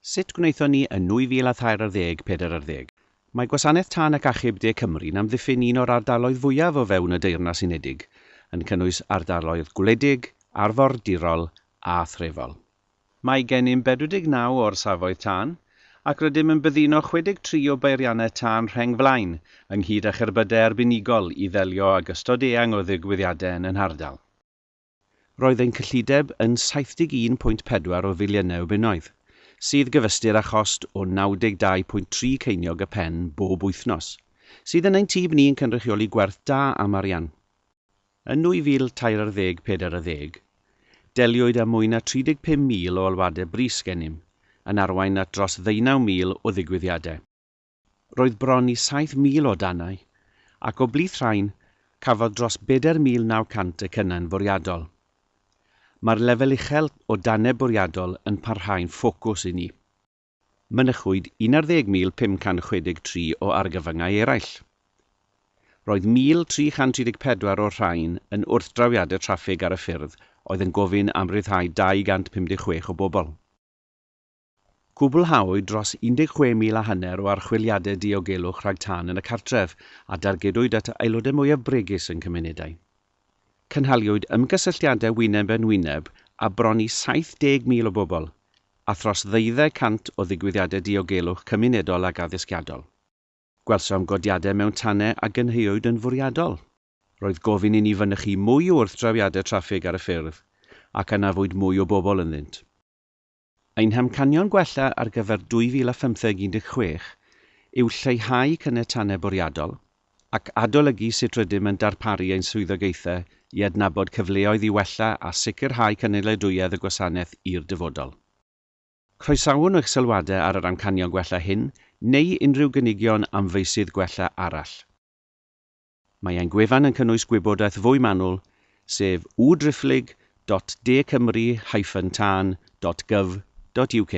Sut gwnaethon ni yn 2003 ar ddeg pedair ar ddeg? Mae Gwasanaeth Tân ac Achub De Cymru'n amddiffyn un o'r ardaloedd fwyaf o fewn y Deyrnas Unedig, yn cynnwys ardaloedd gwledig, arfordirol a threfol. Mae gennym 49 o orsafoedd tân, ac rydym yn byddino 63 o beiriannau tân rheng flaen, ynghyd â cherbydau arbenigol i ddelio ag ystod eang o ddigwyddiadau yn y nhardal. Roedd ein cyllideb yn 71.4 o filiynau o bunnoedd, sydd gyfystyr â chost o 92.3 ceiniog y pen bob wythnos, sydd yn ein tyb ni yn cynrychioli gwerth da am arian. Yn 2013, 40, deliwyd â mwy na 35,000 o alwadau brys gennym, yn arwain at dros ddeunaw mil o ddigwyddiadau. roedd bron i 7,000 o danau, ac o blith rhain, cafodd dros bedair mil naw cant y cynnau'n fwriadol. Mae'r lefel uchel o danau bwriadol yn parhau'n ffocws i ni. Mynychwyd 11,563 o argyfyngau eraill. Roedd 1,334 o'r rhain yn wrthdrawiadau traffig ar y ffyrdd oedd yn gofyn am ryddhau 256 o bobl. Cwblhawyd dros 16,000 a hanner o archwiliadau diogelwch rhag tân yn y cartref, a dargedwyd at y aelodau mwyaf bregus yn cymunedau. Cynhaliwyd ymgysylltiadau wyneb yn wyneb â bron i 70,000 o bobl, a thros ddeuddeg cant o ddigwyddiadau diogelwch cymunedol ac addysgiadol. Gwelsom godiadau mewn tanau a gynhaewyd yn fwriadol. Roedd gofyn i ni fynychu mwy o wrthdrawiadau traffig ar y ffyrdd, ac anafwyd mwy o bobl ynddynt. Ein hamcanion gwella ar gyfer 2015 16 yw lleihau caniatannau bwriadol ac adolygu sut rydym yn darparu ein swyddogaethau i adnabod cyfleoedd i wella a sicrhau cynaliadwyedd y gwasanaeth i'r dyfodol. Croesawwn eich sylwadau ar yr amcanion gwella hyn neu unrhyw gynigion am feysydd gwella arall. Mae ein gwefan yn cynnwys gwybodaeth fwy manwl, sef www.driphlyg dot de cymru hyphen tân dot gyf dot UK.